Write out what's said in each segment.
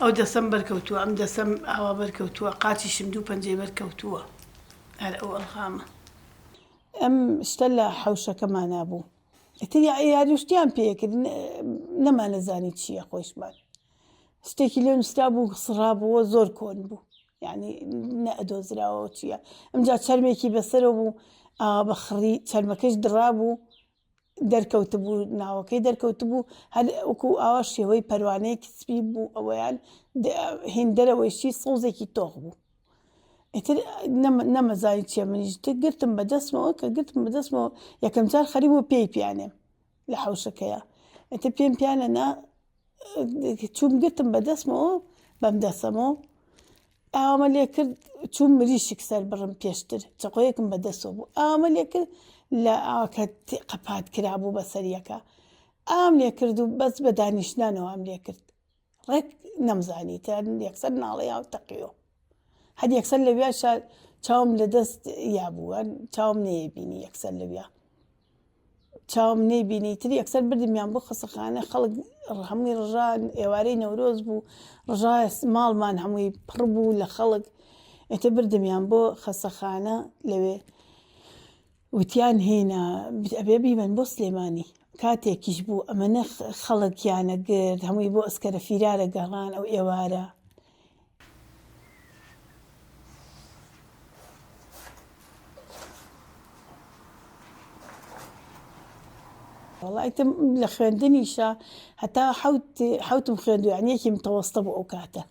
ئەو دەسەم بەرکەوتووە ئەم دەسەم ئاوا بەرکەوتووە قاچیشم دوو پەنجەی بەرکەوتووە هەر ئەو ئەلغامە. ئەم شتە لە حەوشەکەمانا بوو. ئیتر یاریو شتیان پێکرد نەمانەزانی چییە خۆشمان شتێکی لێ نووسرا بوو سڕابووە زۆر کۆن بوو یعنی نەدۆزراوە چییە ئەمجا چەرمێکی بەسەرە بوو بە خڕی چەرمەکەش دڕا بوو دەرکەوت بوو ناوەکەی دەرکەوت بوو هەر وەکو ئاوا شێوەی پەروانەیەکی سپی بوو ئەوەیان هێندەرەوەیشی سەوزێکی تۆخ بوو ئیتر نەمەزانی چێ منیش تێ گرتم بە دەستمەوە کە گرتم بە دەستمەوە یەکەم جار خەری بۆ پێی پیانێ لە حوشەکەیە ئەتە پێم پیانە نا چوم گرتم بە دەستمەوە بەم دەسەمەوە ئامە لێ کرد چوم مریشک سەر بڕم پێشتر چقۆیەکم بە دەستەوە بوو ئامە لێ کرد لە ئاکە قەپات کرابوو بە سەریەکە ئام لێ کرد و بەس بە دانیشتنانەوە ئەم لێ کرد ڕێک نەمزانی تا یەکسەر ناڵێ یاو تەقیۆ هەر یەکسەر لەویا چاوم لە دەست یا بووە چاوم نەیەبینی یەکسەر لەویا چاوم نەیبینی تر یەکسەر بردمیان بۆ خەسەخانە خەڵک هەمووی ڕژان ئێوارەی نەورۆز بوو ڕژا ماڵمان هەمووی پڕ بوو لە خەڵک ئێتە بردمیان بۆ خەسەخانە لەوێ وتیان هینا ئەبێ بیبەن بۆ سلێمانی کاتێکیش بوو ئەمەنە خەڵکیانە گرد هەمووی بۆ ئەسکەرە فیرارە گەڕان ئەو ئێوارە. وەڵایتم لە خوێندنیشە هەتا حوتم خوێندو یعنیەکی متەوەستە بوو ئەو کاتە.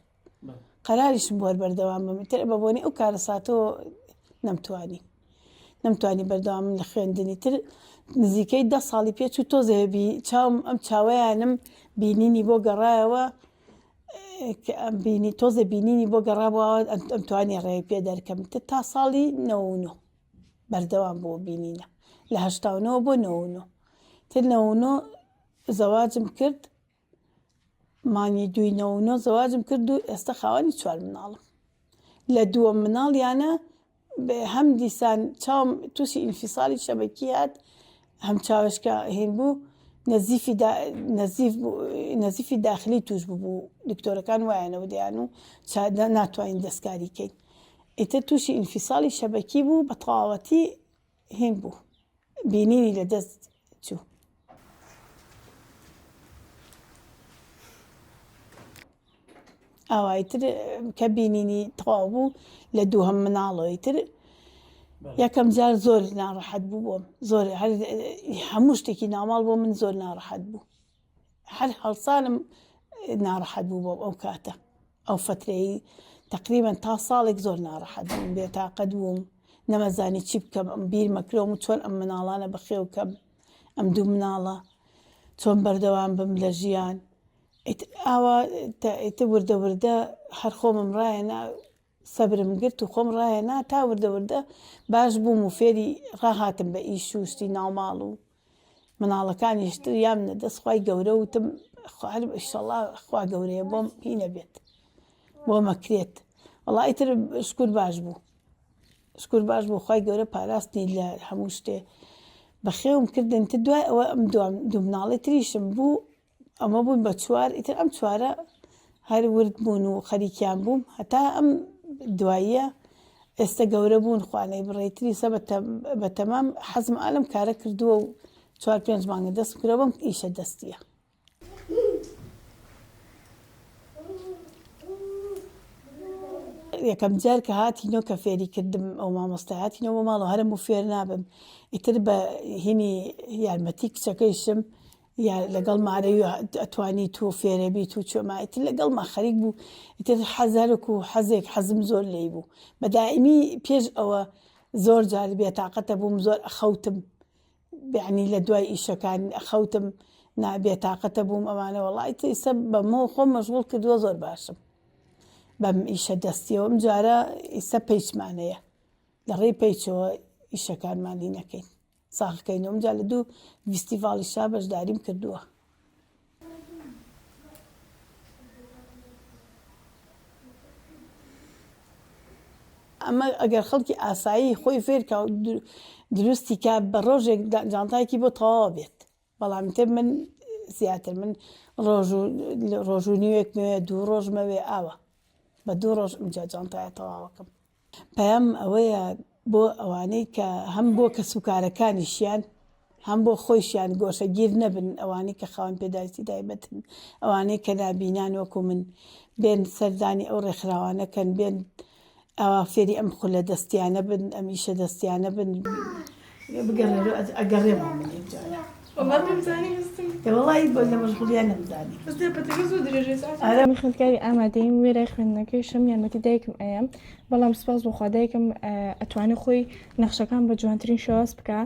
قەراریشم بۆر بەردەوام بم تر بە بۆنی ئەو کارەساتۆ نەمتوانی نەمتوانی بەردەوام لە خوێندنی تر نزیکەی ده ساڵی پێ چوو تۆزێبی چاوم ئەم چاوەیانم بینینی بۆ گەڕایەوە ئەم بینی تۆزە بینینی بۆ گەڕابەوە ئەم توانی ڕێ پێ دەرکەم تر تا ساڵی نەونۆ بەردەوام بۆ بینینە لە هەشتاونەوە بۆ نەونۆ تر نەونۆ زەواجم کرد مانگی دووی نۆ و نۆ زەواجم کرد و ئێستا خاوەنی چوار مناڵم لە دووەم مناڵیانە هەم دیسان چاوم تووشی ئینفیساڵی شەبەکی هات هەم چاوشکە هین بوو نەزیفی نەزیف نەزیفی داخلی توش ببوو دکتۆرەکان وایەنەوە دەیان و چادە ناتوانین دەستکاری کەین ئیتر تووشی ئینفیساڵی شەبەکی بوو بە تەواوەتی هین بوو بینینی لە دەست چوو. ئاوای تر کە بینینی تەواو بوو لە دوو هەم مناڵەوەی تر یەکەم جار زۆر ناڕەحەت بوو بۆم زۆر هەموو شتێکی ناماڵ بۆ من زۆر ناڕەحەت بوو هەر هەڵسانم ناڕەحەت بوو بۆم ئەو کاتە ئەو فترەی تقریبان تا ساڵێک زۆر ناڕەحەت بووم بێتاقەت بووم نەمەزانی چی بکەم ئەم بیر مەکرۆم و چۆن ئەم مناڵانە بەخێوکەم ئەم دوو مناڵە چۆن بەردەوام بم لە ژیان ئاوا ئیتە وردە وردە هەر خۆمم ڕایەنا سەبرم گرت و خۆم ڕایەنا تا وردە وردە باش بووم و فێری ڕاهاتم بە ئیش و شتی ناوماڵ و مناڵەکانیش تریام نە دەست خوای گەورە وتم خوارم ئیشەڵا خوا گەورەیە بۆم هی نەبێت بۆ مەکرێت وڵی تر شکور باش بوو شکور باش بوو خی گەورە پاراستنی لە هەموو شتێ بەخێوم کردن تر دوای ئەوە ئەم دوام دوو مناڵی تریشم بوو ئەمە بوون بە چوار ئیتر ئەم چوارە هەر ورد بوون و خەریکیان بووم هەتا ئەم دواییە ئێستا گەورە بوون خوانەی بڕێتری سە بە تەمام حەزم ئالم کارە کردووە و چوار پێنج مانگە دەست کرە بەم ئیشە دەستیە یەکەم جار کە هاتینۆ کە فێری کردم ئەو مامۆستایاتینەوە بۆ ماڵەوە هەرم و فێر نابم ئیتر بە هینی یارمەتی کچەکەیشم یا لەگەڵ مارەوی و ئەتوانیت و فێرەبیت و چۆما ئیتر لەگەڵما خەریک بوو ئیتر حەز هەرک و حەزێک حەزم زۆر لێی بوو بە دائیمی پێش ئەوە زۆر جار بێتاقەتە بووم زۆر ئەخەوتم بەعنی لە دوای ئیشەکان ئەخەوتم نا بێتاقەتە بووم ئەوانە وڵی تیسە بەمە خۆم مەشغول کردووە زۆر باشم بەم ئیشە دەستیەوەم جارە ئیسە پیچمانەیە لە ڕێی پیچەوە ئیشەکانمانی نەکەین ساڵکەی نۆم جا لە دوو ڤیستیڤاڵی شا بەشداریم کردووە. ئەمە ئەگەر خەڵکی ئاسایی خۆی فێرکە و دروستی کا بە ڕۆژێک جانتایەکی بۆ تەواوە بێت بەڵام تر من زیاتر من ڕۆژ و ڕۆژ و نیوێک مەوێ دوو ڕۆژ مەوێ ئاوا بە دوو ڕۆژ ئەمجا جانتایە تەواوەکەم پەیام ئەوەیە بۆ ئەوانەی کە هەم بۆ کەس و کارەکانیشیان هەم بۆ خۆیشیان گۆشەگیر نەبن ئەوانەی کە خاوەن پێداویستی تایبەتن ئەوانەی کە نابینان وەکو من بێن سەردانی ئەو ڕێکخراوانەکەن بێن ئاوا فێری ئەم خولە دەستیانە بن ئەم ئیشە دەستیانە بن. بگەڕێرۆ ئەگەڕێمەوە من یەک جارە. وەڵا نەمزانی هەستم. ێ وەڵایی بۆ لە مەشغوڵیا نەمزانی. بەس دە پەتەکە زۆر درێژەی ساعت. ئارام. من خوێندکاری ئامادەیم وێرای خوێندنەکەیشم یارمەتی دایکم ئەیەم بەڵام سپاس بۆ خوا دایکم ئەتوانێ خۆی نەخشەکان بە جوانترین شێواز بکا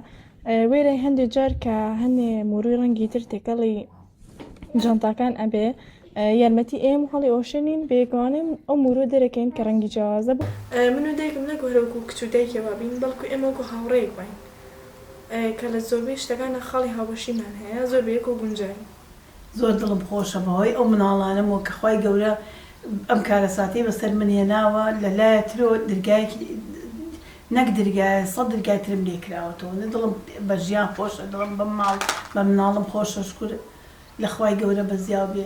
وێرای هەندێ جار کە هەنێ موروی ڕەنگی تر تێکەڵی جانتاکان ئەبێ یارمەتی ئێم هەڵی ئۆشێنین بێگوانم ئەو مورۆ دەرەکەین کە ڕەنگی جیاوازە بوو من و دایکم نەک وەرەوەکو کچ و دایکێ وابین بەڵکو ئێمە وەکو هاوڕێیەک واین کە لە زۆربەی شتەکاندا خاڵی هاوبەشیمان هەیە زۆر بە یەکەوە گونجاوین. زۆر دڵم خۆشە بەهۆی ئەو مناڵانەم وە کە خوای گەورە ئەم کارەساتەی بەسەر من هێناوە لە لایە ترۆ درگایەکی نەک درگایە سەد درگای ترم لێ کراوەتەوە نە دڵم بە ژیان خۆشە دڵم بە ماڵ بە مناڵم خۆشە شکور لە خوای گەورە بەزیاو بێ.